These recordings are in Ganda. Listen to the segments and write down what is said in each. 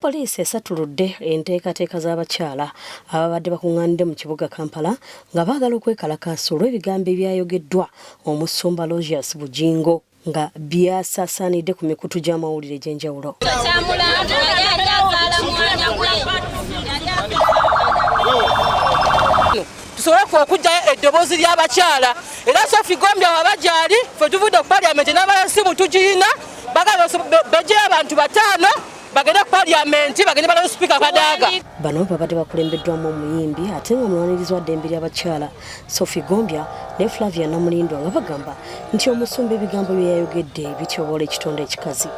Poliisi esattuludde enteekateeka z'abakyala ababadde bakuŋŋaanidde mu kibuga Kampala nga baagala okwekalakaasa olw'ebigambo ebyayogeddwa omusumba Logius Bugingo nga byasaasaanidde ku mikutu gy'amawulire egy'enjawulo. tusobole okujjayo eddoboozi ly'abakyala era sofi gombya waba gyali fe tuvudde ku paliamenti n'abalala simu tugiyina bagala bejjeyo abantu bataano bagende ku parliament bagende balabe speaker kadaga bano babadde bakulembeddwamu omuyimbi ate nga mulwanirizi wa ddembe ly'abakyala sophie gombya ne flavia namulindwa nga bagamba nti omusumba ebigambo bye yayogedde bityobola ekitonde ekikazi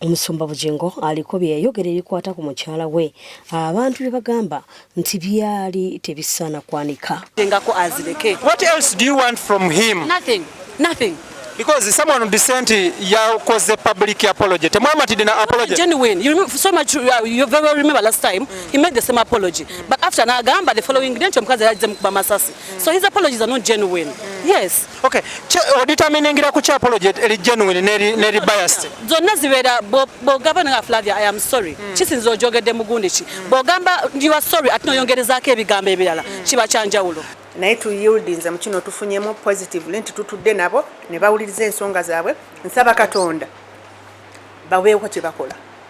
omusumba bugingo aliko bye yayogera ebikwata ku mukyala we abantu bye bagamba nti byali tebisaana kwanika engako azireke what else do you want from him nothing nothing because someone would say nti yakoze public apology temwamatidde na apology genuine you remember so much uh, you very well remember last time mm. he made the same apology mm. but after nagamba the following day nti omukazi yajja mukuba masasi mm. so his apologies are not genuine mm. yes Okay. Oditaminingira ku kya apology eri genuine neri neri biased. Zonna zibera bogaba na Flavia I am sorry. Mm. Kisinzo ojogedde mugundi ki. Mm. Bogamba you are sorry ati noyongerezaako ebigambo ebirala mm. kiba kyanjawulo. naye tuyildinze mu kino tufunyemu positively nti tutudde nabo ne bawuliriza ensonga zaabwe nsaba katonda baweewo kye bakola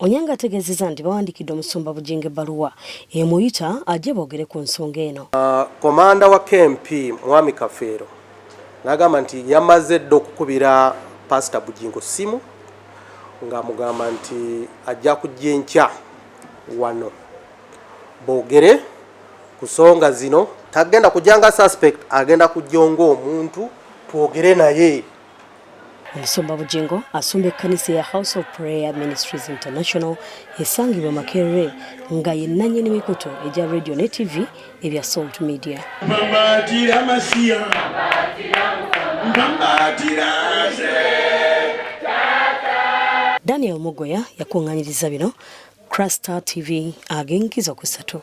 Onyango ategeezezza nti bawandiikidde omusumba Bugingo ebbaluwa emuyita ajje boogere ku nsonga eno. Komanda ah, wa KMP Mwami Kafeero n'agamba nti yamaze dda okukubira Paasita Bugingo ssimu ng'amugamba nti ajja kujja enkya wano boogere ku nsonga zino. Tagenda kujja nga suspect, agenda kujja ng'omuntu twogere naye. Omusumba Bugingo asumba ekkanisa eya House of Prayer Ministries International esangibwa Makerere nga ye nnannyini mikutu egya radio ne TV ebya Salt Media. Mpambaatira Masiya, mpambaatira nze. Daniel Mugoya yakuŋŋanyiriza bino Crasta TV ag'enkizo ku ssatu.